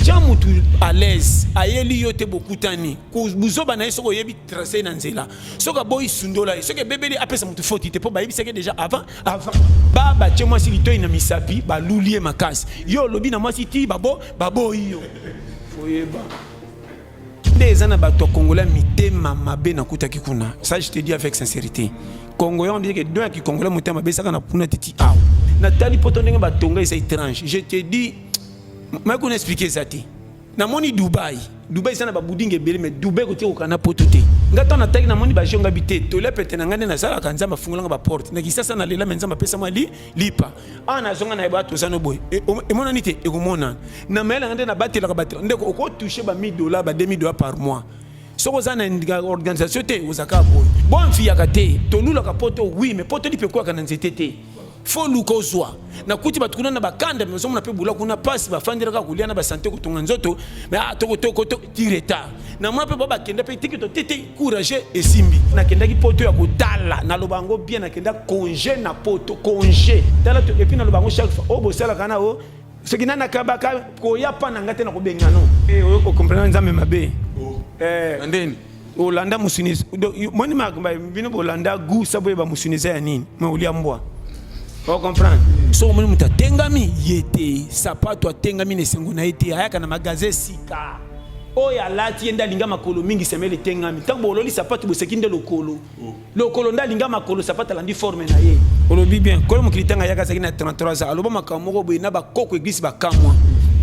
tya motu à l'aise ayeli yo te bokutani buzoba na ye soki oyebi trace na nzela soki aboyi sundola ye soki ebebeli apesa motu foti te mpo bayebisaki déjà avant avant ba batye mwasi litoi na misapi baluli ye makasi yo olobi na mwasi ti babo baboyi yo oyeba nde eza na bato ya kongola mitema mabe nakutaki kuna ça je te dis avec sincérité kongo yango biyeke don ya kikongola motema mabe esaka na kuna titi awa natali poto ndenge batonga eza étrange je te dis mai kuna explike eza te namoni dubai dubai eza na babudingi ebele mai dubai koki kokaa na poto te ngai ntango nataki namoni bajongabi te tolia pete na ngai nde nasalaka nzambe afungolanga baporte na kisasa nalela mai nzambe apesa mwa li lipa awa nazonga na bato oza no boye e, emonani te ekomonana na mayele yanga nde nabatelaka bato ndeko okotouche ba 1000 dollars ba 2000 dollars par mois soki oza na organisation te ozaka boye bo mfiyaka te tolulaka poto wi me poto lipe ekwaka na nzete te fo luka ozwa nakuti bato kuna na bakanda me ozomona mpe bola kuna mpasi bafandelaka kolia na basante kotonga nzoto me ah, tokotoko ti retard na mwa mpe babakenda mpe tiki totete Courage esimbi. Nakendaki poto ya kotala, naloba yango bien, nakenda congé na poto, congé. Tala to epi naloba yango chaque fois. Oh bosalaka na oh soki nani akabaka koya pa na ngai te na kobenga no. Eh oyo ko comprendre nzambe mabe. Oh. Eh. Andeni. Olanda musunisi. Moni makambo bino bolanda goût sabo yeba musunisi ya nini? Mais olia mbwa. O comprendre? So omoni moto atengami ye te, sapato atengami na esengo na ye te, ayaka na magasin sika. oyo alati ye nde alinga makolo mingi semele etengami ntango bololi sapatu boseki nde lokolo lokolo nde alinga makolo sapatu alandi forme na ye olobi bien kolo mokili ntango ayaka azalaki na 33 ans aloba makambo moko boye na bakoko eglise bakamwa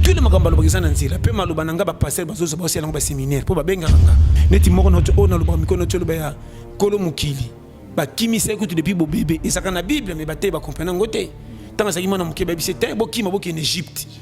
tule makambo alobaka eza na nzela mpe maloba na ngai bapaster bazozo baosi yango baseminaire mpo babengaka nga neti moko na oyo nalobaka mikolo noti oloba ya kolo mokili bakimisaki kutu depuis bobebe ezalaka na bible me bateyi bakomprena yango te ntango azalaki mwana moke bayebisi te bokima bokende egypte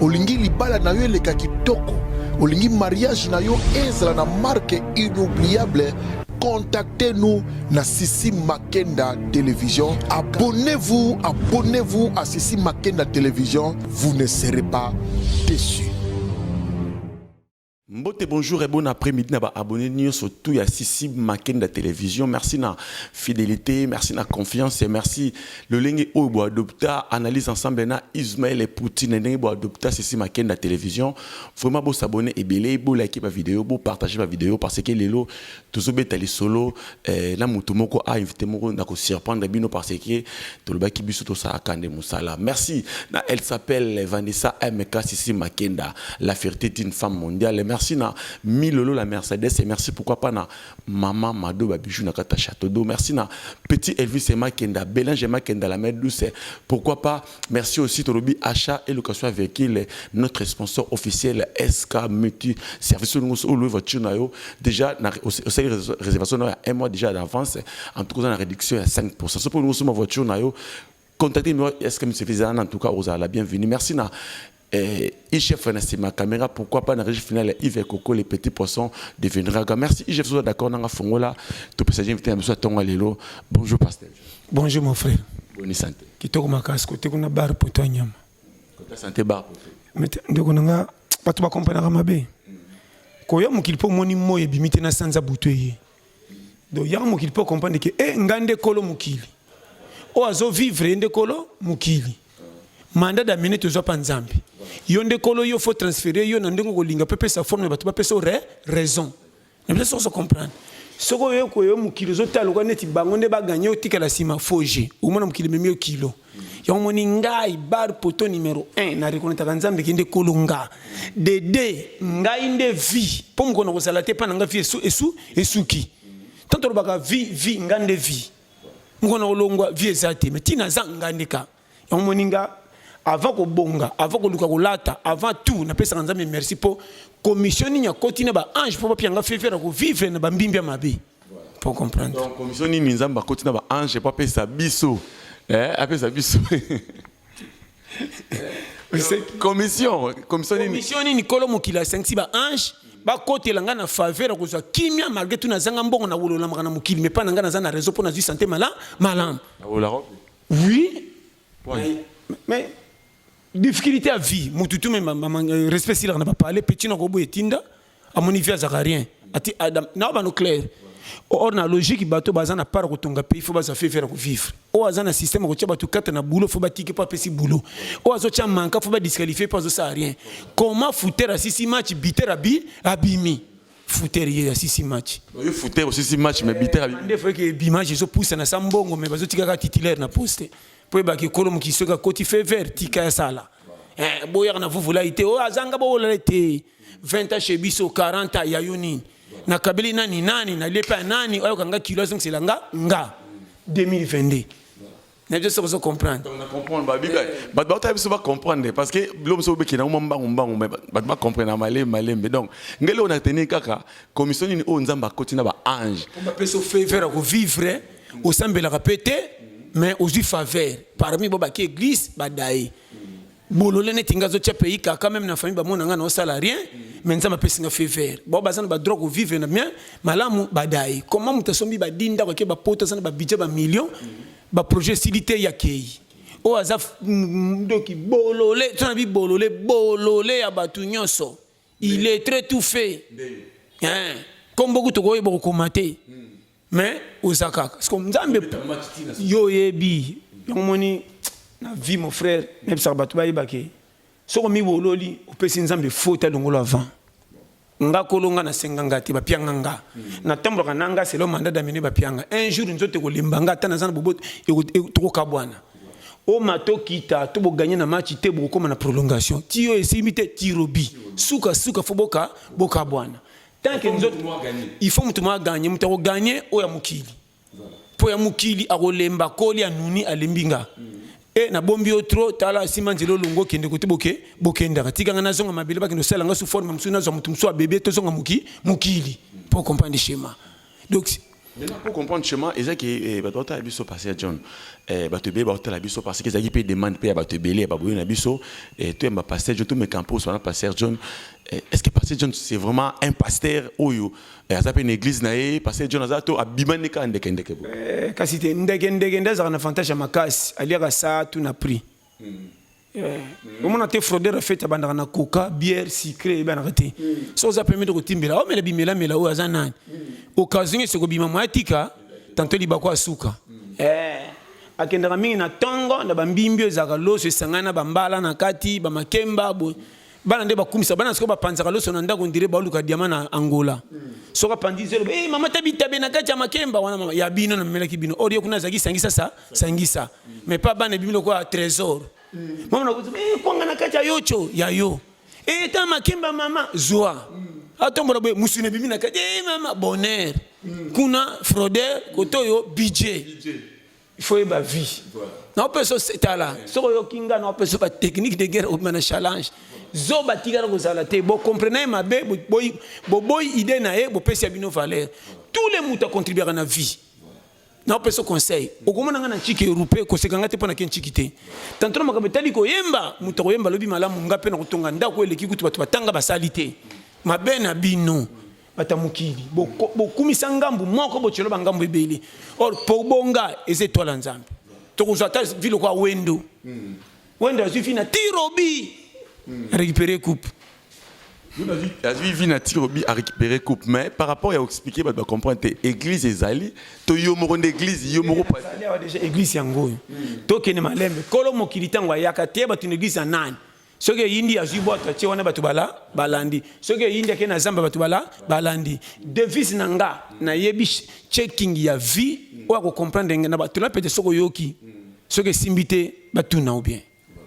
Olingi libala na yo eleka kitoko, olingi mariage na yo ezala na marque inoubliable contactez-nous na Sissi Makenda Télévision. Abonnez-vous, abonnez-vous à Sissi Makenda Télévision. Vous ne serez pas déçus. Mbote bonjour et bon après midi na ba abonne nioso tout ya sisi makenda television merci na fidelite merci na confiance et merci lolenge oyo bo adopta analyse ensemble na Ismaël et Poutine ndenge bo adopta sisi makenda television vraiment bo s'abonner ebele bo liker ba vidéo bo partager ba vidéo parce que lelo tozo beta lisolo eh, na mutu moko a ah, invité moko na ko surprendre bino parce que tolobaki biso to sala kande musala merci na elle s'appelle Vanessa MK Sisi Makenda la fierté d'une femme mondiale merci na Milolo la Mercedes et merci pourquoi pas na maman Mado ba bijoux na kata château d'eau merci na petit Elvis Makenda Bélange Makenda la mère douce pourquoi pas Merci aussi Tolobi achat et location à véhicule notre sponsor officiel SK Multi service nous ou louer voiture na yo déjà na osali réservation na un mois déjà d'avance en tout cas na réduction à 5% ce pour nous ma voiture na yo contactez nous SK Multi service en tout cas aux la bienvenue merci na Eh, IGF na sima caméra, pourquoi pas na régie finale Yves et Coco, les petits poissons deviendra gars. Merci IGF, soit d'accord, nanga fongola, tout peut s'agir invité, monsieur Tonga Lelo. Bonjour pasteur. Bonjour mon frère. Bonne santé. Kitoko makasi kote kuna bar pour toi nyama. Kote santé bar pour toi. Mais ndeko nanga bato ba comprenaka mabe. Koya mokili po moni moye bimite na sanza butu eye. donc yaka mokili mpo comprendre ke e eh, ngai nde kolo mokili oyo azovivre ye nde kolo mokili manda damene tozwa mpa nzambe yo nde kolo yo fo transfere yo na ndenge okolinga mpe pesa forme na bato bapesa re raison na biso sokoso comprendre soki oyo koyo mokili ozotala lokola neti bango nde baganye otikala nsima foge omona mokili ememi yo kilo yango moni ngai bar poto numero 1 na rekonetaka nzambe kende kolo nga dede ngai nde vie mpo mokona kozala te mpa na ngai vie esu, esu, esuki tanto olobaka vie vie ngai nde vie mokona kolongwa vie eza te me ntina aza ngai nde ka yango moni nga avant kobonga avant koluka kolata avant tout napesaka nzambe merci mpo commission nini akoti na baange mpo bapia ngai fefe na kovivre na bambimbi ya mabe po comprendre donc commission nini nzambe akoti na ba ange po apesa biso eh apesa biso commission commission nini commission nini kolo mokili asangisi ba ange bakotela ngai na faveur ya kozwa kimia malgré tout nazanga mbongo na wololamaka na mokili mais mpa na ngai naza na réseau mpo nazwi santé mala malamu oui mais difficulté ya vie motu tu me respect silaka na bapale petit na koboya etinda amoni vie azaka rien ati adam na bano clair or na logique bato baza na part kotonga pays fo baza fe faire vivre oyo aza na système akotia bato kata na boulot fo batiki mpo apesi boulot oyo azotia manka fo badisqualifie mpo azosala rien comment fouter asisi match biter abi abimi fouter ye asisi match oyo fouter osisi match mais biter abimi nde fo eke bimage ezopusa na sa mbongo mais bazotikaka titulaire na poste mpo ebaki ekolo mokili soki akoti fe vert tika ya sala eh, boyaka na vuvulai te oyo azanga bowolala te 20 ans chez biso 40 ans ya yo nini nakabeli nani nani nalie epai ya nani oyo kanga kilo azongisela nga nga 2022 na biso soki ozo comprendre bato baotala biso bacomprendre parce que bilo mosusu obekena mwa mbangu mbangu me bato bacomprendre na malembe malembe donc ngeli oyo nateni kaka commission nini oyo nzambe akoti na baange bapesi ofaveur ya kovivre osambelaka mpe te mais ozwi faveur parmi bo baki église badaye bolole neti nga azotia pays kaka meme na famille bamona nga naosala rien mais nzambe apesi nga fever bao baza na badroit kovivre na bien malamu badai comment moto asombi badini ndako ake bapoto aza na babidget bamillion baprojet esili te yakei oyo aza ndoki bolole tona bi bolole bolole ya bato nyonso il est très tout fait komboku tokoyeba kokoma te mais oza kaka siko nzambe yo oyebi yango moni na vie mon frère nayebisaka bato bayeba ke soki omibololi opesi nzambe faute alongolo avant nga kolo nga nasenga nga te bapianga nga hmm. natambolaka na nga selo manda damine bapianga un jour nzoto ekolemba nga ata naza na boboto tokokabwana omato kita to boganye na match te bokokoma na prolongation tiyo esimbi te tirobi sukasuka fo boka bokabwana tant que nzoto il faut mutu mwa gagne mutu ako gagne oya mukili po ya mukili akolemba koli anuni alembi nga mm. e na bombi yo trop tala sima nzela olongo okende kote boke bokendaka tika nga nazonga mabele bakende osala nga su forme mosusu nazwa motu mosusu abebe tozonga moki mokili po comprendre schéma donc Maintenant, pour comprendre chemin, ils ont que bato batala biso passé ya John. Eh, bato ebele batala biso parce qu'ils ont pe demande pe ya bato ebele ya baboyo na biso. Eh, to yamba pasteur John, to me campo sur pasteur John. Eh, est-ce que pasteur John c'est vraiment un pasteur oyo eh, aza pe une église na ye, pasteur John aza to abima ne ka ndeke ndeke bo. Eh, kasi te ndeke ndeke ndaza na fantasme makasi, aliaka sa tout na prix. Mm. Eh, omona te fraudeur afete abandaka na coca bière sucre ebanaka te mm. so oza pemete kotimbela omela bimelamela oyo aza nani mm. occasion ese kobima moya tika tanto libako asuka mm. eh, akendaka mingi na ntongo na bambimbi oyo ezalaka loso esangani na bambala na kati bamakemba boye bana nde bakumisa bana sikoyo bapanzaka loso na ndako ndire baoluka diama na angola soki apanzi zelo hey, eh, mama ta bitabe na kati ya makemba wana mama ya bino namemelaki bino olie kuna azalaki sangisa sa sangisa mais pa bana ebimi lokola trésor mama nakuti hey, eh, kwanga na kati ya yocho ya yo hey, eh, ta makemba mama zwa atombola boye mosuni ebimi na kati hey, mama bonheur kuna froder koto oyo budget il faut yeba vie naopesa tala soki oyoki nga naopesa ba technique de guerre obima na challenge zoba tikala kozala te bocomprena ye mabe boboyi idée na ye bopesi ya bino valeur tous les moto acontribuaka na vie naopesa conseil okomona nga na nciki erupe koseka nga te mpo nake nciki te tantona makambo etali koyemba moto akoyemba lobi malamu nga mpe nakotonga ndako eleki kutu bato batanga basali te mabe na bino bato ya mokili bokumisa ngambu moko bocelo bangambu ebele or pobonga eza etwale ya nzambe tokozwa ata vi lokola wendo hmm. wendo azwi vi na tirobi hmm. récupéré coupe azwi vi na tirobi a récupéré coupe mais par rapport ya koexplike bato bacomprendre te église ezali to yo moko nde église yo moko déjà église yango oyo hmm. tokende malembe kolo mokili ntango ayaka te bato na église ya nani soki eyindi azwi bwato atie wana bato bala balandi soki eyindi ake na zamba bato bala balandi devise na nga nayebi checking ya vie oyo akocomprendre ngai na bato na pete soki oyoki soki esimbi te batuna ou bien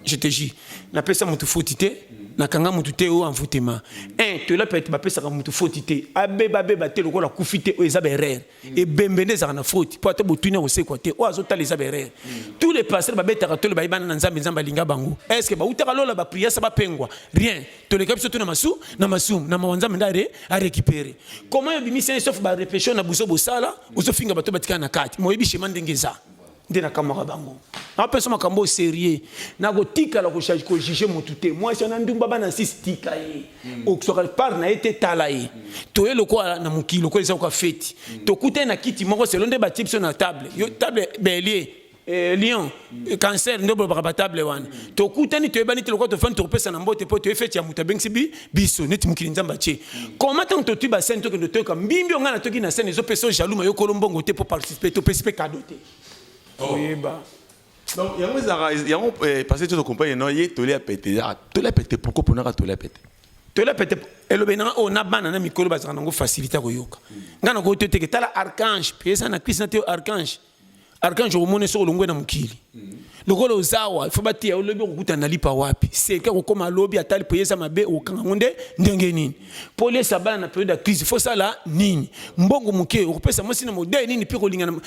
je te jure napesa motu foti te nakanga motu te oyo envoutema un tola pete bapesaka motu foti te abeba abeba te lokola kufi te oyo eza baerreur Mm. ebembe nde ezalaka na faute mpo ata botuni akosekwa te oyo azotala eza berere mm. tous les pasteur babetaka tole bayebana na nzambe nzambe alinga bango estce bautaka lola bapriasa bapengwa rien toleka biso to na masu na masumu na mawa nzambe nde arécupere comment obimisi ye sauf barepession na buzo bosala ozofinga bato batikala na kati moyebi shema ndenge eza nde nakamwaka bango napesa makambo oyo serieux nakotikala kojuge motu te mwasi wana ndumba bana sisi tika ye hmm. okiswaka part na ye te tala ye hmm. toye lokola na mokili lokola eza koka feti hmm. tokutani na kiti moko selo nde batie biso na table yo table belie eh, lion eh, cancer nde bolobaka batable wana tokutani toyebani te lokola tofandi tokopesana mbote mpo toye feti ya moto abengisi bi biso neti mokili nzambe atie koma ntango totwi basene tokende toyoka mbimbi yo ngai natoki na sene ezopesa yo jaluma yo kolo mbongo te mpo participe topesi mpe kado te oh. oyeba donc yango ezalaka yango eh, parce que tokompagne no ye toli ya pete ezalaka toli ya pete pourkoi mponaka toli ya pete toli ya pete elobe nanga oyo oh, na bana na mikolo bazalaka nango facilité ya koyoka ngai nakoki to teke tala archange mpe eza na krist na te archange archange omoni soki olongwe na mokili lokola ozawa fo bateya olobi okokutana na lipa wapi seke kokoma lobi ata lipo eza mabe okanga yango nde ndenge nini mpo oliesa bana na periode ya crise fo osala nini mbongo moke okopesa mwasi na modele nini mpe kolingana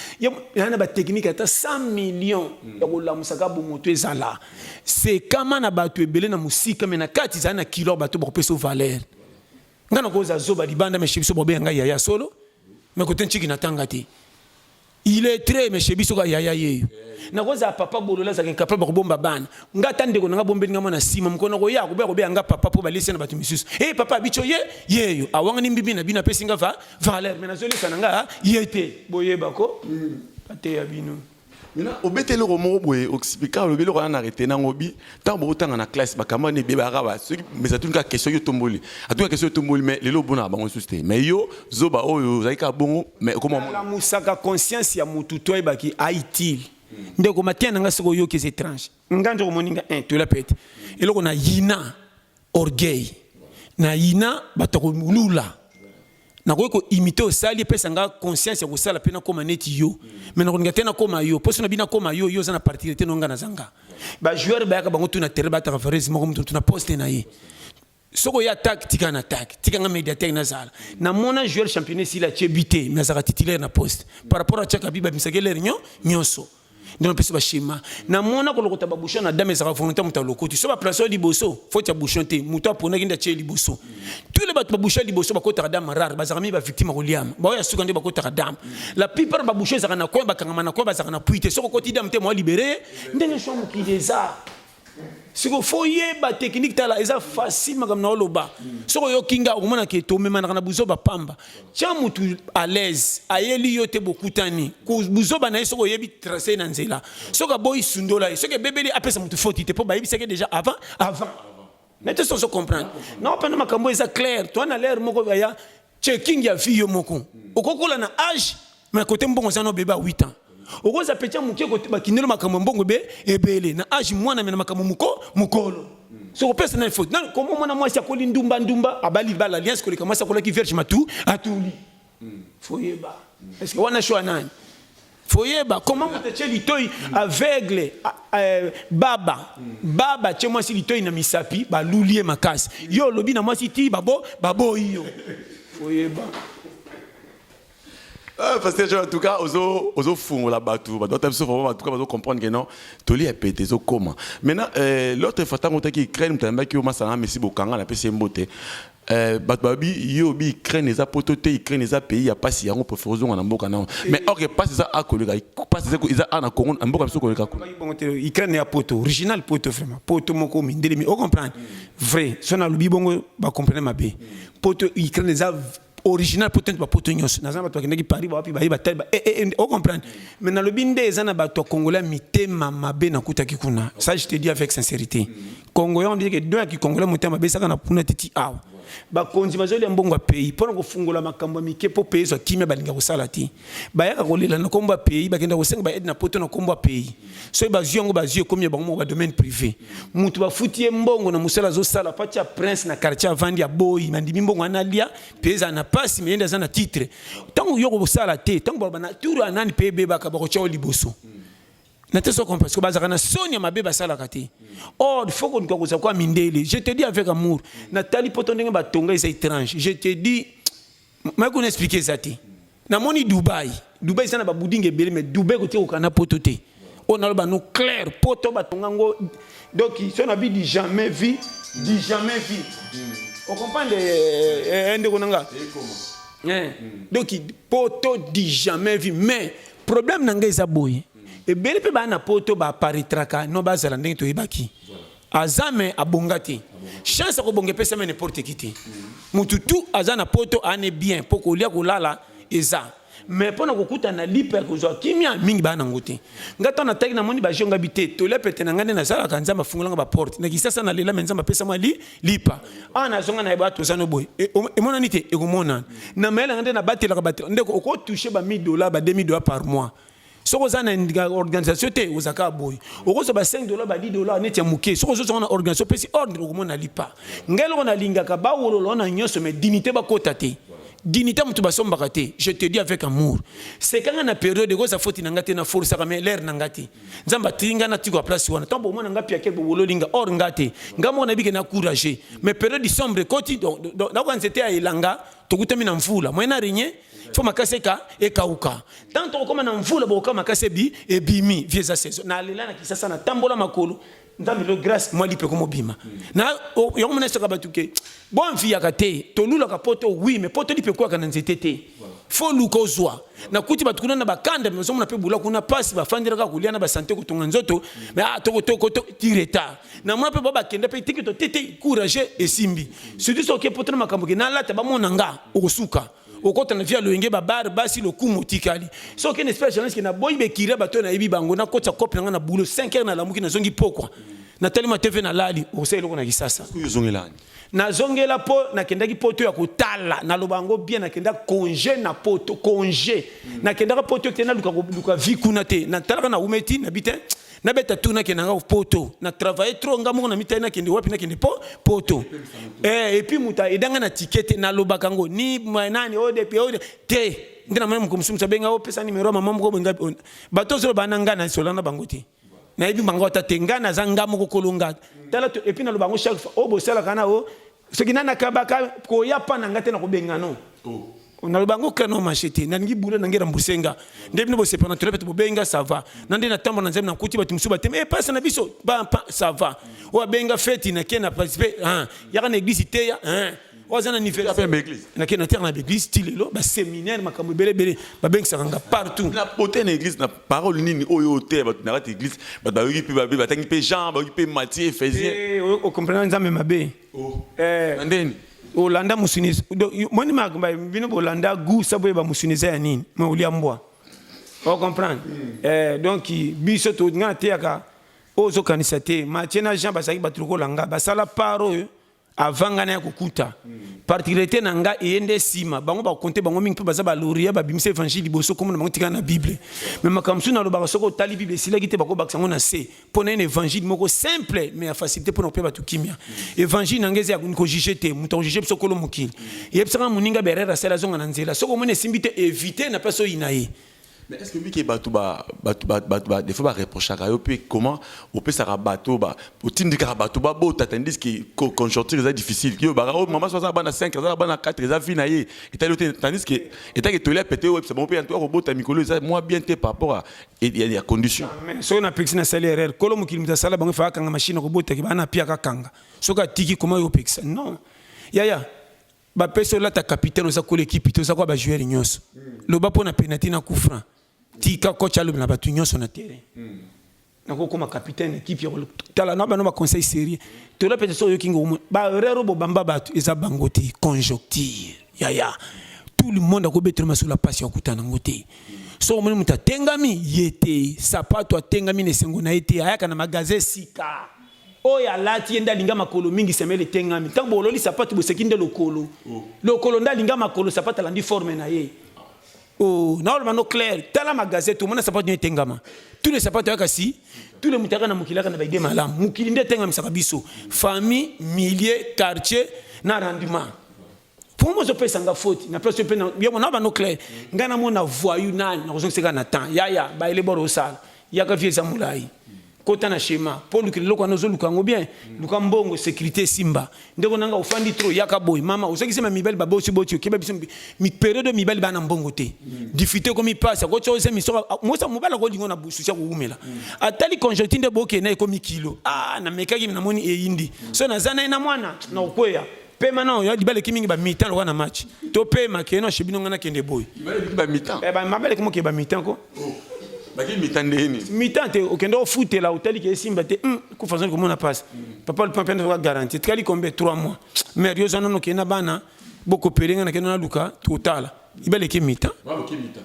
yaa na bateknike ata 100 million ya kolamusaka bomoto ezala sekama na bato ebele na mosika me na kati ezali na kilo bato bakopesa o valeur ngai nakoza zoba libanda meshe biso bobeya ngai yaya solo me kote nciki natanga te Illettré mais chez biso ka yaya yeyo. Nakoza papa bolola azalaka incapable ya kobomba bana. Nga ata ndeko na nga bombeli nga mwana nsima mokolo nakoya akobeya kobeya nga papa mpo balisi na bato misusu. Eh hey, papa abicho ye yeyo awangani mbibi na bino apesi nga va valeur mais nazolisa na nga ye te boyeba ko hmm. ateya bino. Maintenant obeta eloko moko boye oxplica olobi eloko wana na retena ngobi ntango bokotanga na classe bakamba nde bebaka ba soki mais atuni kaka question yo tomboli atuni kaka question yo tomboli mais lelo obonaka bango lisusu te mais yo zoba oyo ozali kaka bongo mais okomalamusaka conscience ya motu to ayebaki aitile hmm. ndeko mateya na ngai soki oyoki eza étrange ngai nzokomoni nga eh, tola pete eloko na yina orgueil na yina bato ya kolula nakoki ko imite osali epesa nga conscience ya kosala mpe nakoma neti yo me nakolinga te nakoma yo mposo na bino akoma yo yo oza na particularité no nga naza nga bajoueur bayaka bango tuna terrain bataka varese moko moto tuna poste na ye soki oya attaque tika na attaque tika nga médiateur nazala namona joueur championnat esili atie bi te me azalaka titulaire na poste par rapport atiaka bi babimisaki lere nyo nyonso nde napesi bashema na mwana kolokota babushon na dame ezalaka volonté moto alokoti so baplace oyo liboso foti ya bushon te moto aponaki nde atie liboso tous les bato babusha liboso bakotaka dame rare bazalaka mingi bavictime ya koliama baoyo ya suka nde bakotaka dame la plupart babusha ezalaka na coin bakangama na coin bazalaka na pui te soki okoti dame te moa libere ndenge shwa mokili eza siko fo yeba technique tala eza facile makambo na oloba soki oyoki nga okomona ke tomemanaka na buzoba pamba tya motu à l'aise ayeli yo te bokutani buzoba na ye soki oyebi trace na nzela soki aboyi sundola ye soki ebebeli apesa motu foti te mpo bayebisaki deja avant avant mais te sozo comprendre na openda makambo eza clair toi na l'air moko ya checking ya vie yo moko okokola na âge mais côté mbongo za no beba 8 ans okoza petit moke ko bakindelo makambo mbongo be ebele na âge mwana mena makambo moko mukolo so kopesa na faute na komo mwana mwasi akoli ndumba ndumba abali bala alliance koleka mwasi akolaki vierge matu atuli foyeba eske wana shwa nani foyeba koma moto atye litoi aveugle eh, baba baba atye mwasi litoi na misapi baluli ye makasi yo olobi na mwasi ti babo baboyi yo foyeba Ah, pasteur Jean, en tout cas, ozo, ozo fungo la batou. Bah, d'autres se font, en tout cas, ozo comprendre que non, toli est pété, ozo comment. Maintenant, euh, l'autre fois, tant qu'on t'a qui crée, m't'a dit que au masana, mais si bokanga, la pèse mbote. Euh, bato babi yo obi ukraine eza poto te ukraine eza pays ya pasi yango préfère ozonga na mboka nao mais or ke pasi eza akoleka pasi eza a na congo na mboka biso koleka kuna ukraine ya poto original poto vraiment poto moko mindelemi o comprendre vrai so nalobi bongo bacomprene mabe poto ukraine eza original poto nde bapoto nyonso naza na bato bakendaki paris bawapi baye batali ba eh, eh, eh, o comprendre mais nalobi nde eza na bato ya congolais mitema mabe nakutaki kuna ça je te dis avec sincérité Congolais on dit que doya ki Congolais motema besaka na puna titi awa. bakonzi bazolia mbongo ya pays mpo na kofungola makambo ya mike mpo pays ezwa kimia balinga kosala te bayaka kolela na nkombo ya pays bakenda kosenga baaide na poto na nkombo ya pays soki bazwi yango bazwi ekomi ya bango moko badomaine privé moto bafuti ye mbongo na mosala azosala mpo atya prince na quartier avandi ya boyi nandimi mbongo wana alia pays ezala na mpasi meyende aza na titre ntango yo kosala te ntango balobana tour ya nani pays ebebaka bakotya yo liboso na te soko parce que bazalaka na soni ya mabe basalaka te or faut koluka kozala kwa mindele je te dis avec amour natali poto ndenge batonga eza étrange je te dis mai kuna explike eza te namoni dubai dubai eza na babudinga ebele mais dubai koki kokana poto te oyo naloba no claire poto batonga yango donc so na bi du jamais vie du jamais vie okomprendre eh, eh, eh, ndeko na nga donc poto du jamais vie mais problème na ngai eza boye ebele mpe baa na poto baaparitraka no bazala ndenge toyebaki aza me abonga te chance akobonga epesami n'importe qui te motu tu aza na poto ane bien mpo kolia kolala eza mais mpo na kokutana na lipa ya kozwa kimia mingi baa nango te ngai ntango nataki namoni bajonga bi te tolia pete na ngai nde nazalaka nzambe afungolanga baporte na kisasa na lela me nzambe apesa mwa li lipa awa nazonga na bato oza no boye e, emonani te ekomonana na mayele yanga nde nabatelaka bato ndeko okotouche ba 1000 dollars ba 2000 dollars par mois soki oza na organisation te oza kaka boye okozwa ba 5 dollars ba 10 dollars neti ya moke soki ozozonga na organisation opesi ordre okomona lipa ngai eloko nalingaka bawolola wana nyonso mais dignité bakota te dignité moto basombaka te je te dis avec amour sekanga na periode ekozwa foti na ngai te na forusaka mais lere na ngai te nzambe atindi ngai natikwa place wana ntango bomona ngai piake bobololi nga or nga te ngai moko nayebi ke na courage mais periode decembre ekoti nakoka nzete ya elanga tokutami na mvula moyen na regne fo makasi eka ekauka ntango tokokoma na mvula bokokama makasi ebi ebimi vie eza saison nalela na kisasa natambola makolo nzambe lo grace mwa lipe komobima na yango mona esoka bato ke bonfiyaka te tolulaka poto wi me poto lipe ekwaka na nzete te fo luka ozwa nakuti bato kuna na bakanda bazomona mpe bula kuna mpasi bafandelaka kolia na basante kotonga nzoto me ah, ti retard na mwa mpe babakenda mpe teke to tete courage esimbi surtout soki poto na makambo ke nalata bamona nga okosuka okota na vie ya loyenge babare basi lokumu otikali so okende espere journaliste ke naboyi bekira bato oyo nayebi bango nakotisa kope na ngai na boulot 5 heures nalamuki nazongi pokwa natali ma tv nalali okosala eloko na kisasa nazongela mpo nakendaki poto ya kotala naloba yango bien nakenda conge na poto conge nakendaka poto te naluka vie kuna te natalaka na umeti nabi te nabeta tour nakende nanga poto na travaille trop nga moko na mitai nakende wapi nakende po poto eh, epuis moto edanga na ticket te nalobaka yango ni nani o depi o te nde namoni moko mosusu moto abenga opesa oh, nimero ya mama moko boye oh, bato ozoloba na ngai nasola na bango te nayebi bango ata te ngai naza ngai moko kolonga tala epuis naloba yango chaque fois oyo oh, bosalaka na o soki nani akabaka koya pa na ngai te na kobenga no oh. naloba yango kano mashe te nalingi bula na ngai remboursé nga nde bino bosepana tole bete bobenga ça va na nde natambola na nzambe nakuti bato mosusu batema e eh, pasi na biso bampa ça va oyo abenga feti nake na participe yaka na église teya oyo aza na anniversaire nake na terre na baeglise ti lelo baséminaire makambo ebele ebele babengisaka nga partout na bote na église na Parole nini oyo oteya bato na kati eglise bato bayoki mpe babe batangi mpe Jean bayoki mpe Matthieu Ephésien Eh, o- okomprena nzambe mabe Eh, na ndeni olanda mosuni donc, yo- moni ma- ba- bino bolanda gu sa boyeba mosuni eza ya nini ma olia mbwa ocomprendre Eh, donc biso to- nga nateyaka oyo ozokanisa te matie na jean bazalaki bato lokola nga basala part oyo avant nga naya kokuta particularité na nga eye nde nsima bango bakonte bango mingi mpe baza baloria babimisa évangile liboso komona bango tikala na bible me makambo mosusu nalobaka soki otali bible esilaki te bakobakisa yango na se mpo na ene évangile moko simple me ya facilité mpo na kopea bato kimia évangile na nga eza ya kojuge te moto akojuge biso kolo mokili eyebisaka moninga berere asali azonga na nzela soki omoni esimbi te evite na mpe asoyina ye Mais est-ce que lui qui batu ba batu ba batu ba des fois ba reprochaka yo pe comment opesaka bato ba otindikaka bato babota tandis que co- conjoncture eza difficile yo baka oyo mama so aza bana 5 aza bana 4 eza vie na ye etali yo te tandis que etaki etoli ya pete oyebisa bango mpe yanto akobota mikolo eza mwa bien te par rapport à- ya- ya ya condition Mais soki napekisi nasali erreur kolo mokili moto asala bango efa akanga mashine akobotaki bana apiaka akanga soki atiki koma yo opekisa non yaya Ba pesi olata capitaine oza kola ekipe te oza kwa ba joueur nyonso. Loba mpo na penalty na coup franc. Tika coach alobi na bato nyonso na terrain. Mm. nakokoma capitaine ekipe ya tala na bana baconseil sérieux tola mpenza soki oyoki ngo barero bobamba bato eza bango te conjoncture yaya tout le monde akobetela masolo ya mpasi ya kutana yango te soki omoni moto atengami ye te sapato atengami na esengo na ye te ayaka na magasin sika Oyo alati ye nde alinga makolo mingi semele etengami ntango bololi sapatu boseki nde lokolo oh. lokolo nde alinga makolo sapatu alandi forme na ye oh, naoloba no claire tala magazete omona sapatu nyo etengama tous les sapatu ayaka si tous les moto ayaka na mokili ayaka na baide malamu mokili nde etengamisaka biso famille milieu quartier na rendement Pourquoi je pèse nga faute na place yo pena yo mona ba no clair nga na mona voyou nani na kozo seka na temps ya ya ba ele boro sala ya ka vie zamulai kota na schéma po lukile loko na zo lukango bien luka mbongo sécurité simba ndeko nanga ofandi trop ya ka boy mama ozo kisema mibali ba bosi boti yo keba biso mi période mibali bana mbongo te difficulté ko mi passe ko cho se mi so mo sa mobala ko lingo na busu sia ko umela atali conjoncture de boke na ko mi kilo ah na mekaki na moni eyindi so na zana na mwana na okweya pema na oyo libala eleki mingi bamita lokola na match to pema kee na shebino ngai nakende boye eh, mabala eki mokee bamita ko oh, mita te okende ofutela otali ke esimba te hmm, kufa zoni komona mpasi papa lupa mpe nazoka garanti etikali kombe 3 mois mare yo oza nono okende na bana bokopele ngai nakende naluka totala ibaleki mita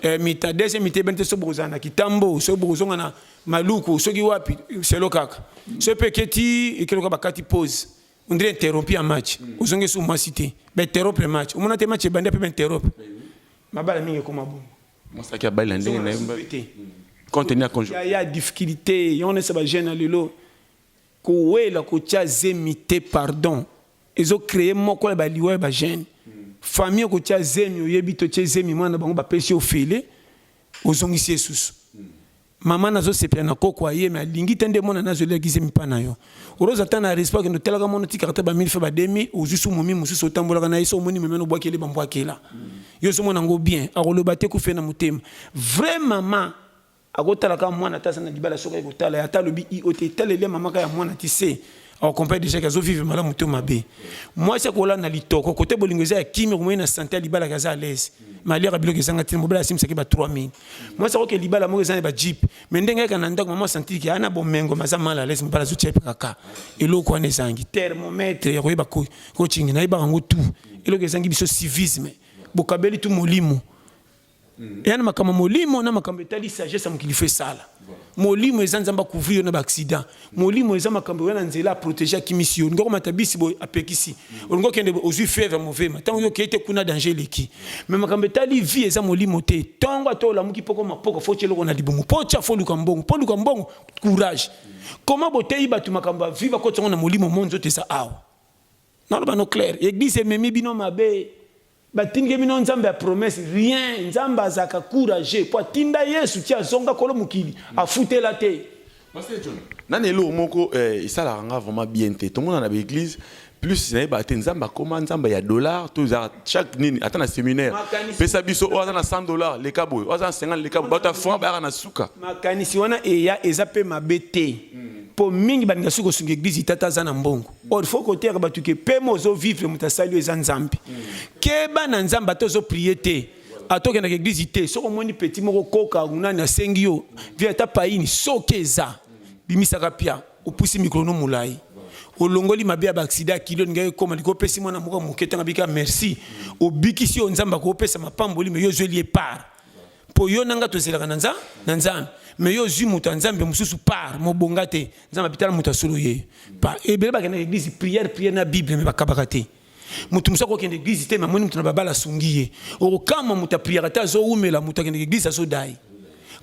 eh, mita deuxième mita ebani te soki bokozala na kitambo soki bokozonga na maluku soki wapi selo kaka soki mpe eketi ekeloka bakati pose on dirait interrompu ya match ozongi su mwasi te bainterrompre match omona te match ebandi ape bainterrompre mabala mingi ekoma bongo mosaki ya bali na ndenge na ye te contenu ya conjo ya difficulté yango nesa bajeune ya lelo kowela kotya zemi te pardon ezocreye moko ya baliwa ya bajeune famille okotya zemi oyebi totye zemi mwana bango bapesi ofele ozongisi esusu Maman nazo sepela na koko aye mais alingi te nde mwana nazo lia gizemi pa na yo. Rose ata na respect kendo telaka mwana otikaka te ba 1000 fois ba 2000 ozui su momi mususu otambolaka na ye so omoni momi wana obwakeli ba mbwakela. Yo ozo mona ngo bien akoloba te kufa ye na motema. Vrai maman akotalaka mwana ata aza na libala soki aye kotala ye ata alobi i o te etaleli ya maman kaka ya mwana ti se au complet déjà que azo vivre malamu to mabe mwasi akola na litoko kote bolingo eza ya kimia komoi na sante ya libala kaza à l'aise mais aliaka biloko ezanga ntina mobali asimisaki ba 3000 mwasi akoke libala moko eza na ba jeep mais ndenge ayaka na ndako mama asantiki ana bomengo maza mal à l'aise mobali azotia epekaka eloko wana ezangi thermomètre ya koyeba kochingi nayebaka yango tout eloko ezangi biso civisme bokabeli tu molimo Mm. eya na makambo ya molimo na makambo etali sagesse ya mokili fo esala molimo eza nzambe akouvrir yo na baaccident molimo eza makambo oya na nzela aprotege akimisi yo olingi okomata bisi boye apekisi mm. olingi okende ozwi fièvre movema ntango yo okei te kuna danger eleki mai makambo etali vie eza molimo te ntongo ata olamuki mpoko mapoko fo otya eloko na libumu mpo otya fo oluka mbongo mpo oluka mbongo courage mm. koma boteyi bato makambo ya vie bakotisa yango na molimo mo nzoto eza awa naloba no claire eglise ememi bino mabe Batindike bino nzambe ya promesse rien nzambe azaka courageux po atinda yesu ti azonga kolo mokili afutela te. Pasteur John, nani eloko moko eh, esalaka nga vraiment bien te. Tomona na ba église plus na yeba te nzambe akoma nzambe ya dollar to za chaque nini ata na séminaire. Pesa biso oyo aza na 100 dollars leka boye, oyo aza na 50 leka boye, bato ya franc bayaka na suka. Makanisi wana eya eza pe mabe te. Po mingi balinga suki kosunga église tata aza na mbongo. or faut koteyaka bato ke pema ozo vivre moto asali yo eza nzambe keba na nzambe ata ozo prie te ata okendaka eglize te soki omoni petit moko koka nani asengi yo vie ata paini soki eza bimisaka pia opusi mikolo no molai olongoli mabe ya baaksida ya kilo olingaki ekoma liko opesi mwana moko moke ntango abika merci obikisi oyo nzambe akopesa mapamboli me yo ozweli ye part mpo yo na nga tozelaka na nza na nzambe me yo ozwi moto ya nzambe mosusu par mobonga te nzambe abitala moto ya solo ye pa ebele bakenda na eglise prière prière na bible me bakabaka te moto mosusu akokende eglise te me amoni moto na babala asungi ye okokama moto apriaka te azowumela moto akendeke eglise azodai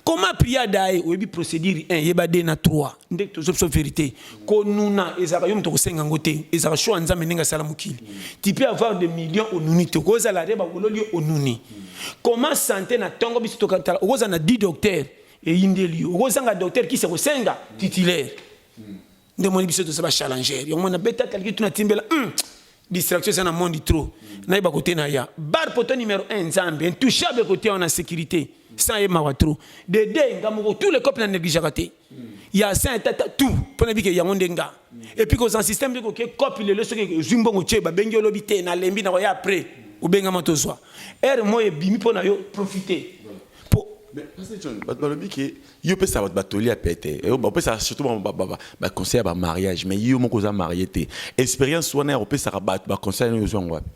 koma pria dai oyebi procédure 1 yeba 2 na 3 nde tozo biso verité konuna ezalaka yo moto okosenga yango te ezalaka sho ya nzambe ndenge asala mokili ti pe avoir de million onuni te okozala re bakololi yo onuni koma sante na ntongo biso tokatala okozala na 10 docteur eyindeli yo okozanga docteur kisi ekosenga titulaire nde omoni biso toza bachallenger yango mwana betakaliki tuna timbela hmm. distraction eza na monde trop nayeba kote na ya bar poto numero 1 nzambe intouchable kote wana sécurité sans ye mawa trop de deux nga moko tous les copes na négligeaka te ya saint tata tout mpo na bike yango nde nga et puis kozala système nde koke cope lelo soki ozwi mbongo tie babengi yo lobi te nalembi na koya après obengama tozwa heure moi ebimi mpo na yo profite mpo bato balobi ke yo pesa bato batoli ya pete eh, opesaka surtout baconseil ya bamariage mais yo moko oza marie te expérience wana ya kopesaka bato baconseil yango ozwa yango wapi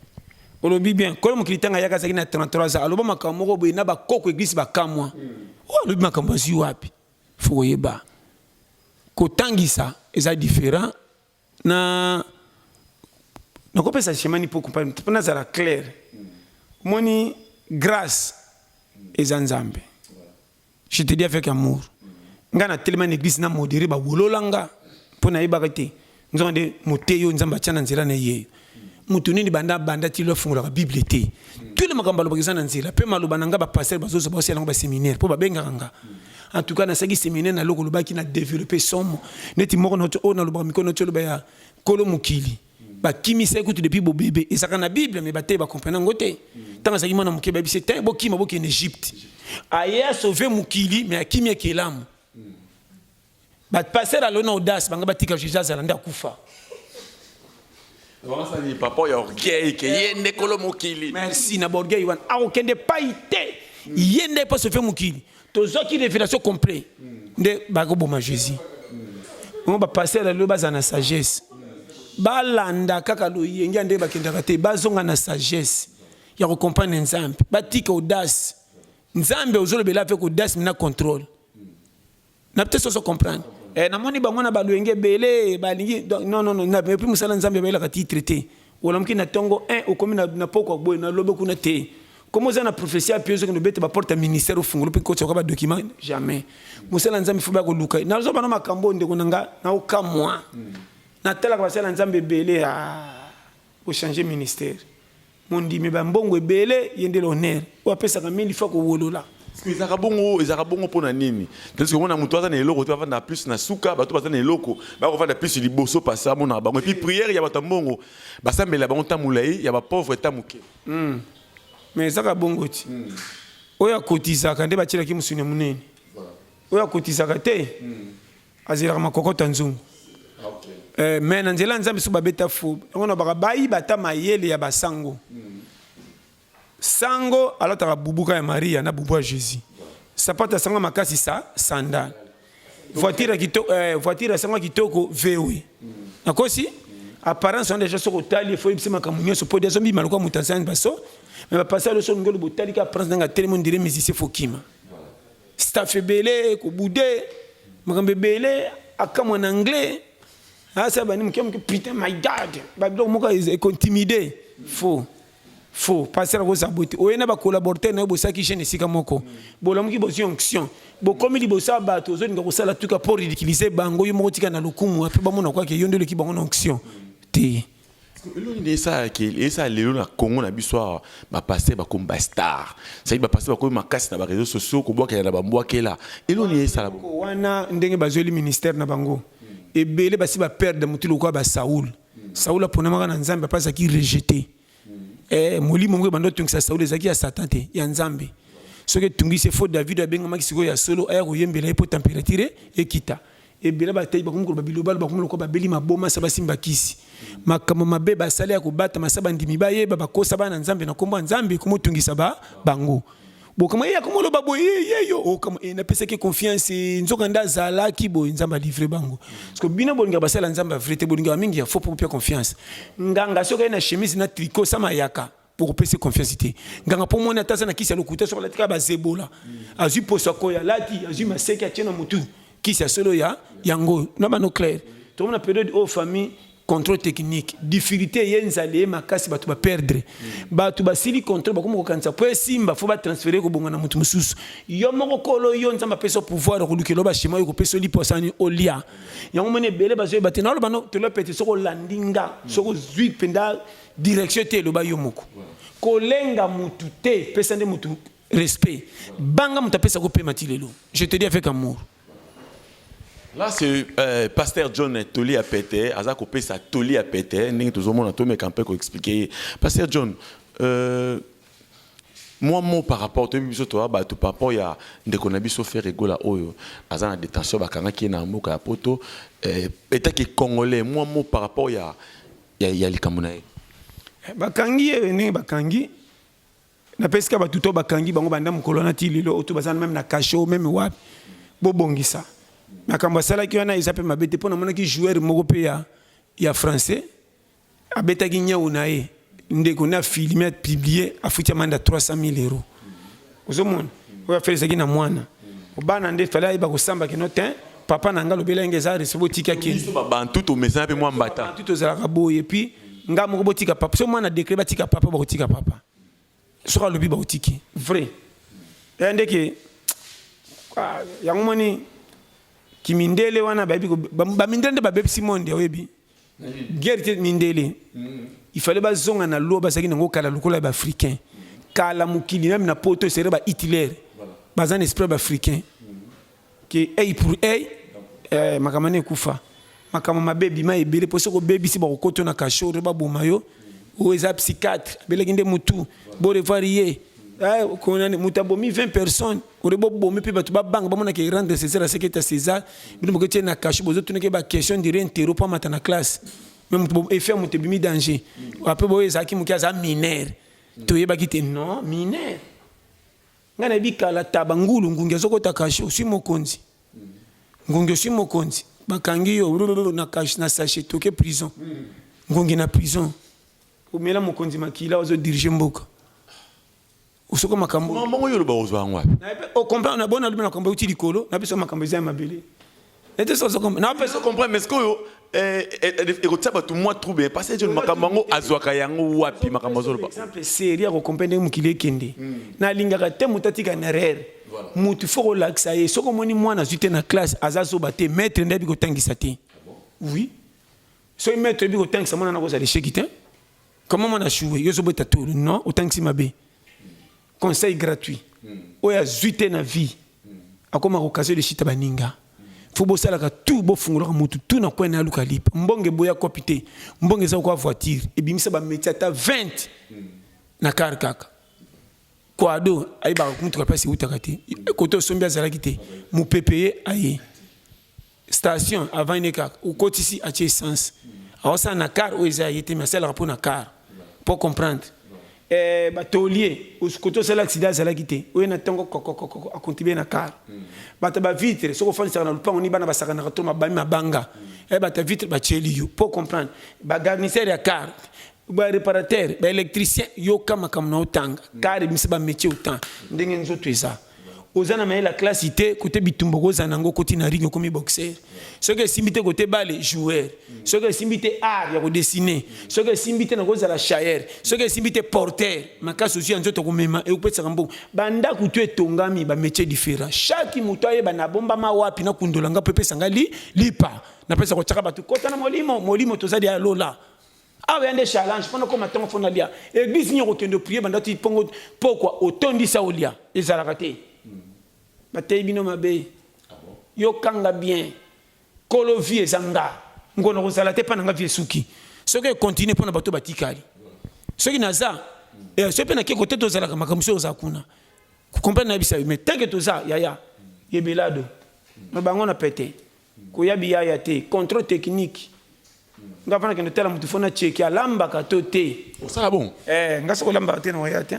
olobi bien kolo mokili ntango ayaka azalaki na 33 ans aloba makambo moko boye na bakoko eglise bakamwa hmm. oyo oh, alobi makambo azwi wapi fo koyeba kotangisa eza différent Na nakopesa chemin ni poku mpa mpo nazala clair. Omoni grace eza Nzambe. Je te dis avec amour. Nga na telema na eglise na modere ba wolola nga mpo nayebaka te nzonga nde moteyo Nzambe atia na nzela na ye. moto nini banda abanda ti lelo afungolaka bible te tule makambo alobaka eza na nzela mpe maloba na ngai bapastere bazozo baosala yango baseminaire mpo babengaka nga en tout cas nasalaki seminaire na loko olobaki na développe somo neti moko na oyo nalobaka mikono ti oloba ya kolo mokili bakimisaki kutu depuis bobebe ezalaka na bible me bateyi bakomprena yango te ntango azalaki mwana moke bayebisi te bokima bokende egypte aye asauve mokili me akimi ekelamu Ba passer à l'honneur audace banga batika Jesus azala nda kufa. Wasani papa ya orgueil ke yende kolo mokili. Merci na borgueil wana. Akokende pai te. Yende pa se fait mokili. Tozwaki révélation complet. Nde bakoboma Jésus. Ngo ba passer à l'honneur bazana sagesse. balanda kaka loyenge ya ndenge bakendaka te bazonga na sagesse ya kocomprendre nzambe batika audace nzambe ozolobela mpe kodasme na contrôle na peut-être ozo comprendre eh namoni bango na baluenge belé balingi non non non na puis musala nzambe bayelaka titre te olamuki na tongo 1 okomi na na poko boye na lobe kuna te comme oza na prophétie ya pio ozokende obeta baporte ya ministère ofungoli mpe kotya oka badocument jamais mosala nzambe fo baya koluka ye nazoba na makambo oyo ndeko na nga naokamwa natalaka basala nzambe ebele a ah. Bo changer ministère. Mondimi ba mbongo ebele ye nde l'honneur. Oyo apesaka mingi faut ko wolola. Ezalaka bongo ezalaka bongo pona nini tandis komona mutu aza na eloko te avanda plus na suka bato baza na eloko bakovanda plus liboso parce amonaka bango epuis priere ya bato ya mbongo basambela bango ntango molai ya bapauvre ntango moke hmm. mais ezaka bongo ti hmm. oyo akotisaka nde batielaki mosuni ya monene oyo akotisaka te hmm. azelaka makokota nzungu eh, me na nzela ya nzambe so babeta fo yango na baka bayiba ata mayele ya basango sango alataka bubuka ya maria na bubu ya jésus sapato ya sango makasi sa sandale voiture kitoko eh, voiture ya sango kitoko vewe nakosi apparence wana deja soki otali efo oyebisi makambo nyonso mpo deja mbima lokola moto azangi baso me bapasi aloso ngelo botalika apparence nanga telemo ndire musicien fokima staff ebele kobude makambo ebele akamwa na anglais asa bani moke moke putain my god babiloko moko ekontimide faux faux pasteur akozala boye te oye na bacollaborateur na yo bosalaki jeune esika moko bolamuki bozwi onction bokomi liboso ya bato ozolinga kosala tuka mpo ridiculise bango yo moko tika na lokumu ape bamona kwake yo nde oleki bango na onction te eloni nde esalaki esala lelo na congo na biso awa bapaster bakomi bastar saki bapaster bakomi makasi na bareseau sociaux kobwakela na bambwakela eloni esala wana ndenge bazweli ministère na bango ebele basi baperde motu lokola basaul saul aponamaka na nzambe apa azalaki rejete eh, molimo moko ebanda otungisa saul ezalaki ya satan te ya nzambe soki etungisi efo david abengamaki sikoyo ya solo aya koyembela ye mpo temperature ekita Ebele bateyi bakomi koloba bilobalo, bakomi lokola babeli maboma, sa basimba kisi. Makambo mabe basali ya kobatama, sa bandimi bayeba, bakosa bana Nzambe na kombo ya Nzambe, komotungisa ba bango. Bokamwa ye akomi oloba boye ye ye yo okama e napesaki confiance nzoka nda zalaki boye Nzambe livre bango. Parce que bino bolinga basala Nzambe vrai te, bolinga mingi ya faux pour pia confiance. Nganga soki aye na chemise na tricot sama yaka. okopesa confiance te nganga mpo moni ata aza na kisi ya lokuta soki alati kaka bazebola azwi poso akoyo alati azwi maseke atie na motu kisi ya solo ya yango na bano claire tokomi na periode oyo famille contrôle technique difficulté eye nzala eye makasi bato baperdre bato basili contrôle bakomi kokanisa mpo esimba fo batransfere kobonga na moto mosusu yo moko kolo yo nzambe apesa pouvoir okolukelo bashema oyo kopesa oli posani olia yango moni ebele bazoyeba te naolobano tolopete soki olandi nga soki ozwi mpenza direction te eloba yo moko kolenga mutu te pesa nde mutu respect banga mutu apesa ko pema ti lelo je te dis avec amour Là, c'est euh, Pasteur John Toli à Pété, Azako Pesa Toli à Pété, Ning Tozomo Natome Kampé, ko expliquer. Pasteur John, euh, moi, mot par rapport, tu biso toi, bah, tu par rapport, ya, ndeko na biso faire egola oyo, azana détention, bakanga qui est na mboka ya poto, euh, état qui est congolais, moi, mot par rapport, ya, ya, ya likambo na ye eh, bakangi ye eh, ndenge bakangi napesika bato to bakangi bango banda mokolo wana ti lelo oyo to baza meme na kasho meme wapi bobongisa makambo asalaki wana eza mpe mabe te mpo namonaki joueur moko mpe ya, ya français abetaki nyau na ye ndeko na filme apiblie afuti amanda 300 000 euros ozomona oyo afelisaki na mwana obana nde fale ayeba kosamba kino te papa na ngai lobela yenge eza rese botika kebiso babantu tomesana mpe mwa mbata tu tozalaka boye epuis ngai moko botika papa so mwana dekre batika papa bakotika papa soki alobi bakotiki vrai ya eh, ndeke ah, yango moni kimindele wana bayebi bamindele nde babebisi monde oyebi guerre te mindele mm. il fallait bazonga na loi bazalaki nango kala lokola ya baafricain kala mokili meme na poto esere ba hitler baza na esprit baafricain ke ey pour ey eh, makambo na ekufa makambo mabe ebima ebele mpo soki obebisi bakokoto na kashore baboma yo oyo eza psychiatre abelaki nde motu borevoir ye eh, moto abomi 20 personnes kore bobomi mpe bato babanga bamona ke rendre césar aseke ta césar bino boke tie na kasho bozotunaki ba question dire intero mpo amata na classe me moto efe ya moto ebimi danger apres boyo ezalaki moke aza minere toyebaki te non minere ngai nayebi kala taba ngulu ngungi azokota kasho oswi mokonzi ngungi oswi mokonzi bakangi yo na kasho na sache toke prison ngungi na prison omela mokonzi makila ozodirige mboka Osoka makambo. Makambo yango yo oloba ozwa yango wapi? Na pe o comprendre na bona lobi na makambo euti likolo, na biso makambo eza ya mabele. Na te sozo comprendre. Na pe so comprendre mais sikoyo eh, eh, eh, ekotia bato mwa trouble eh, parce que makambo yango azwaka yango wapi makambo azoloba exemple serie ya kokompe ndenge mokili ekende hmm. nalingaka te moto atika na erreur moto fo kolakisa ye soki omoni mwana azwi te na classe aza zoba te maître nde abi kotangisa te ah oui soki maître ebi kotangisa mwana nakozala esheki te comment mwana ashuwe yo ozobeta tolo non otangisi mabe conseil gratuit oyo azwi te na vie akoma kokase leshita baninga fo bosalaka tu bofungolaka motu tu na kwena aluka lipa mbonge boya kopi te mbonge eza kokoa voiture ebimisa bametie ata 20 na kar kaka kwado ayebaka motuka place eutaka te kote osombi azalaki te mopepe ye aye station avant ne kaka okotisi atie essence aosala na car oyo eza ye te mais asalaka mpo na car mpo comprendre eh, batolier koto osala accident azalaki te oye na ntongo kokokokoko akontibe na car mm. bato ba vitre soki ofandisaka na lopango ni bana basakanaka to mabami mabanga mm. eh, bato ya vitre batieli yo mpo comprendre bagarnisere ya car baréparateur baélectricien yoka makambo na otanga mm. car ebimisa bamétier otan ndenge nzoto eza oza na mayela classe te kote bitumba okozala nango okoti na ring okomi boxer soki esimbi te kote bale joueur soki esimbi te art ya kodessine soki esimbi te nakozala chaire soki esimbi te porter makasi ozwi ya nzoto komema ekopesaka mbongo bandako tu etongami bamétier différent chaque moto ayeba nabombama wapi nakundola nga mpo epesa nga li lipa napesa kotyaka bato kota na molimo molimo tozali ya lola awa ya nde challenge mpona okoma ntongo mpo nalia eglise nini okokende oprie banda ti mpongo pokwa otondisa olia ezalaka te hmm. bateyi bino mabe ah yokanga bien kolo vie eza nga ngona kozala te mpa na nga vie esuki soki ekontinue mpo na bato batikali soki naza eh, soki mpe nake kote tozalaka makambo soki oza kuna kokomprene nayebisa yo mais tanke toza yaya yebelado na bango na pete Koya biyaya te control technique nga fana kende tala mutu fo na cheki alambaka to te osala bon eh nga soko lambaka te na waya te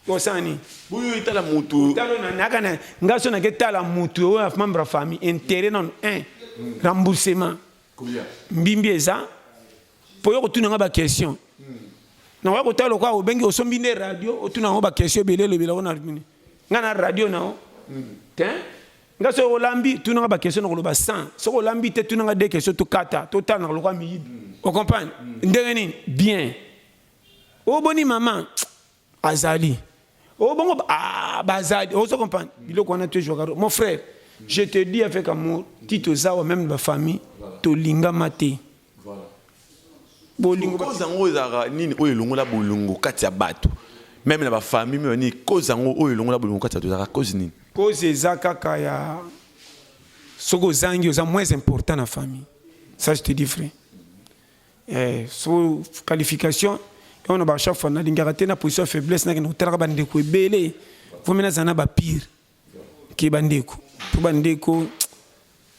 osala nini boyo etala mutu talo na naka na nga so na ke tala mutu oyo af membre famille intérêt na un remboursement mbimbi eza poyo ko tuna nga ba question na waya ko tala kwa obengi osombi nde radio otuna ngo ba question belelo belako na nga na radio na o te nga soki olambi tuna nga ba question nakoloba 100 soki olambi te tuna nga deux question tokata totanaka lokola miyibi ocomprendre ndenge nini bien oboni mama azali obongo ah, bazali ozo comprendre biloko wana tozwaka mon frère je te dis avec amour ti toza wa même bafamille tolingama te Bolingo cause yango ezalaka nini oyo elongola bolingo kati ya bato meme na bafamille meme nini cause yango oyo elongola bolingo kati ya bato ezalaka cause nini cause eza kaka ya soki ozangi oza moins important na famille ça je te dis vrai eh, so qualification yango na ba chaque fois nalingaka te na position ya faiblesse nakende kotalaka bandeko ebele vomi nazala na bapire ke bandeko mpo bandeko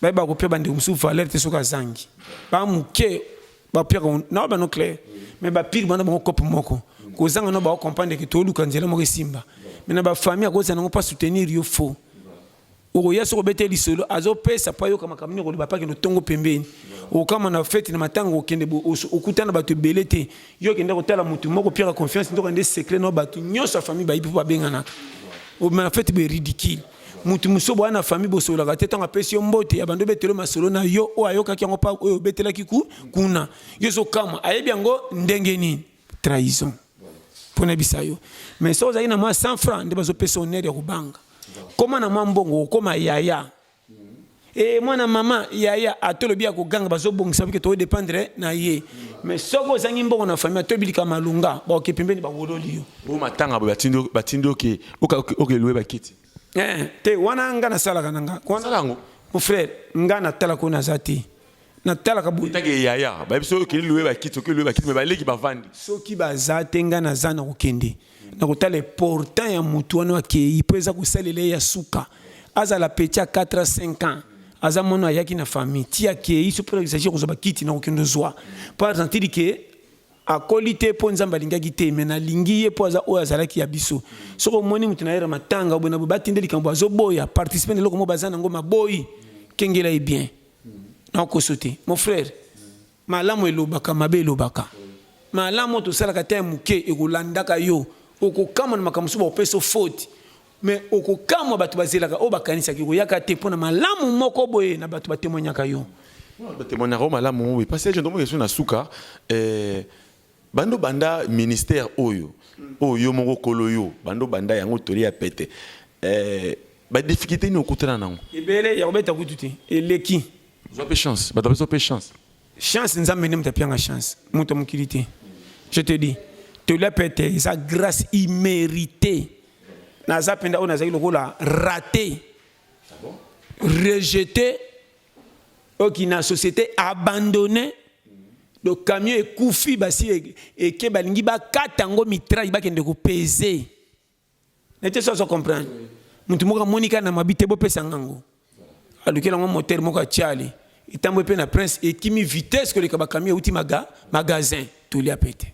bayeba kopia bandeko mosusu valeur te soki azangi ba moke bapiaka na bano claire mais bapire bana bango cope moko kozanga no baokomprendre ke tooluka nzela moko esimba me na bafamille akozala nango mpo asoutenir yo faux okoya soki obete lisolo azopesa mpo ayoka makambo nini okoloba mpo akende otongo pembeni okama na feti na matanga okende okutana bato ebele te Yo kende kotala mutu moko piaka confiance ndoka nde secret na batu nyonso ya famille bayibi mpo babenganaka obima na fete be ridicule mutu mosusu boya na famille bosololaka te ntango apesi yo mbote ya bando obetele masolo na yo oyo ayokaki yango mpa oyo obetelaki ku kuna yo ozokamwa ayebi yango ndenge nini trahison mpo nayebisa yo mais soki ozalaki na mwa 100 franc nde bazopesa onere ya kobanga koma na mwa mbongo okoma yaya Eh mwana mama yaya atolobi ya koganga bazobongisa bike to dépendre na ye mais soki ozangi mbongo na famille to bilika malunga baoke pembeni bawololi yo o matanga boye batindi oke okelowe bakiti eh, te wana nga nasalaka na nga yango mon frère nga natalaka oyo naza te natalaka boye Tangi ya yaya bayebi soki okeli loye bakiti soki loye bakiti me baleki bavandi soki baza te ngai naza na kokende na kotala important ya motu wana akei mpo eza kosalela ye ya suka azala petit ya 4 a 5 ans aza mwana ayaki na famille ti akei so mpo exagir kozwa bakiti na kokende ozwa mpo azantidi ke akoli te mpo nzambe alingaki te me nalingi ye mpo aza oyo azalaki ya biso soki omoni motu na yere matanga oyo boye na boye batinde likambo azoboya participe na eloko moko baza na yango maboyi kengela ye bien na koso te mon frère malamu elobaka mabe elobaka malamu tosalaka te moke ekolandaka yo okokamwa na makambo mosusu bakopesa faute mais okokamwa bato bazelaka oyo bakanisaka ekoyaka te mpo na malamu moko boye na bato batemoignaka yo batemoignaka yo malamu oui parce que ndombo yesu na suka eh, Bando banda ministère oyo oyo yo moko kolo yo bando banda yango toli ya pete eh, ba difficulté ni okutana nango ebele ya kobeta kutu te eleki zwa pe chance bato bapesa pe chance chance nzambe nde moto apianga chance moto ya mokili te je te dis toli ya pete eza grâce imméritée naza mpenza oyo nazali lokola rate ah rejeté Okina société abandonne le camion ekufi basi eke balingi bakata yango mitraille bakende kopeze nete so azo comprendre motu moko amoni kaka na mabi te bopesa ngango alukeli yango motere moko atiali etambwe mpe na prince ekimi vitesse koleka bacamion euti maga magasin tolia mpe te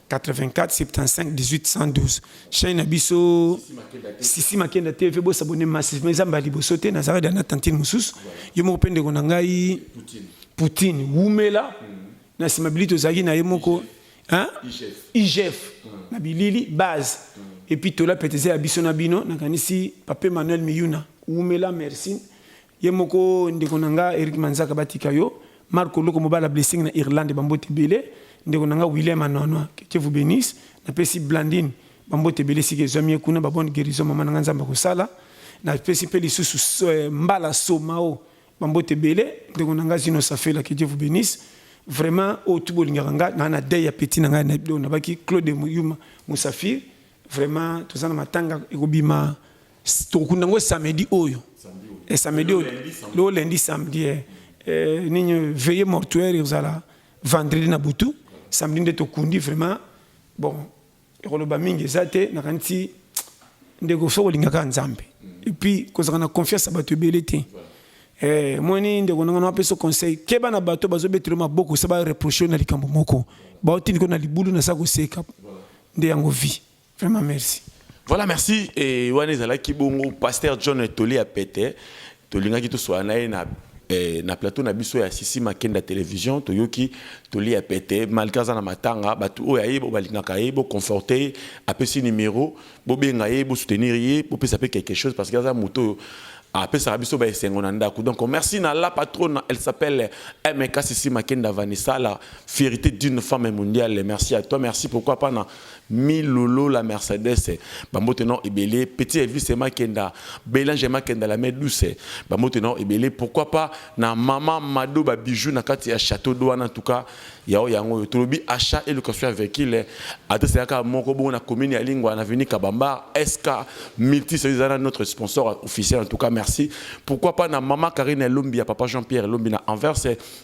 84 75 18 112 chaîne na biso sisi makenda tv bosabone massivement eza mbala liboso te nazalaki da na tantine mosusu yo moko mpe ndeko na ngai poutine wumela mm. na nsima bili tozalaki na ye moko igf mm. na bilili base mm. epuis tola pete eza ya biso na bino nakanisi pape manuel miyuna wumela merci Ye moko ndeko na nga Eric Manzaka batika yo. Marco Loko mobala blessing na Irlande bambote ebele. Ndeko na nga William Anwanwa que Dieu vous bénisse. Napesi Blandine bambote ebele sika ezwami ye kuna ba bonne guérison mama na nga Nzambe akosala. Napesi mpe lisusu so- eh, Mbala Somao bambote ebele. Ndeko na nga Zino Safela que Dieu vous bénisse. Vraiment oyo tu bolingaka nga na na deuil ya petit na nga na oyo nabaki Claude Yuma Musafir. Vraiment toza na matanga ekobima tokunda ngo samedi oyo eh, samedi oyo lelo lundi samedi eh, eh, nini veille mortuaire ekozala vendredi na butu samedi nde tokundi vraiment bon ekoloba mingi eza te nakanisi ndeko soki olingaka nzambe epuis kozalaka na confiance ya bato ebele te eh, moni ndeko nanga na apesa conseil keba na bato bazobetelo maboko sa bareproche na likambo moko baotindiko na libulu na sa koseka nde yango vie Vraiment merci. Voilà, merci. Et wana ezalaki bongo pasteur John Toli ya pete. Tolingaki toswa na ye na eh, na plateau na biso ya Sisi Makenda télévision toyoki Toli ya pete malgré aza na matanga bato oyo aye bo balingaka ye bo conforte ye apesi numéro bobenga ye bo soutenir ye bopesa mpe quelque chose parce que aza moto oyo apesaka biso baesengo na ndako donc merci na la patronne elle s'appelle mk Sisi Makenda Vanessa la fierté d'une femme mondiale merci à toi merci pourquoi pas na Milolo la Mercedes ba mbote non ebele petit Elvis et Makenda Belange Makenda la main douce ba mbote non ebele pourquoi pas na maman Mado ba bijoux na kati ya château d'eau en tout cas yao yango yo tolobi achat et location ya véhicule adresse yaka moko bongo na commune ya Lingwa na avenue Kabambar SK multi service zana notre sponsor officiel en tout cas merci pourquoi pas na maman Karine Lombi ya papa Jean-Pierre Lombi na Anvers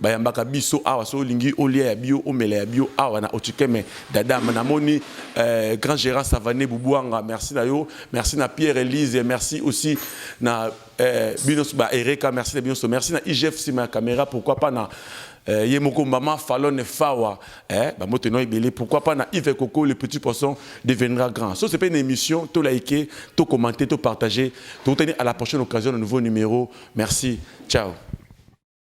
bayambaka biso awa soki olingi olia ya bio omela ya bio awa na otikeme dadam namoni euh, grand gérard savane bubuanga merci na yo merci na pierre elise merci aussi na euh, bino ba ereka merci na bino so merci na igf sima ya caméra pourquoi pas na euh, ye moko mama falone fawa eh, bamoto eno ebele pourquoi pas na ive coco le petit poisson deviendra grand so c'est pas une émission to liker to commenter to partager tokutani à la prochaine occasion de nouveau numéro merci ciao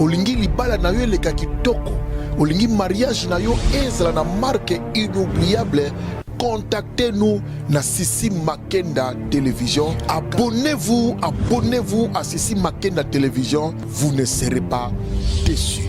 Olingi libala na yo eleka kitoko, olingi mariage na yo ezala na marque inoubliable contactez-nous na Sissi Makenda Télévision. Abonnez-vous, abonnez-vous à Sissi Makenda Télévision. Vous ne serez pas déçus.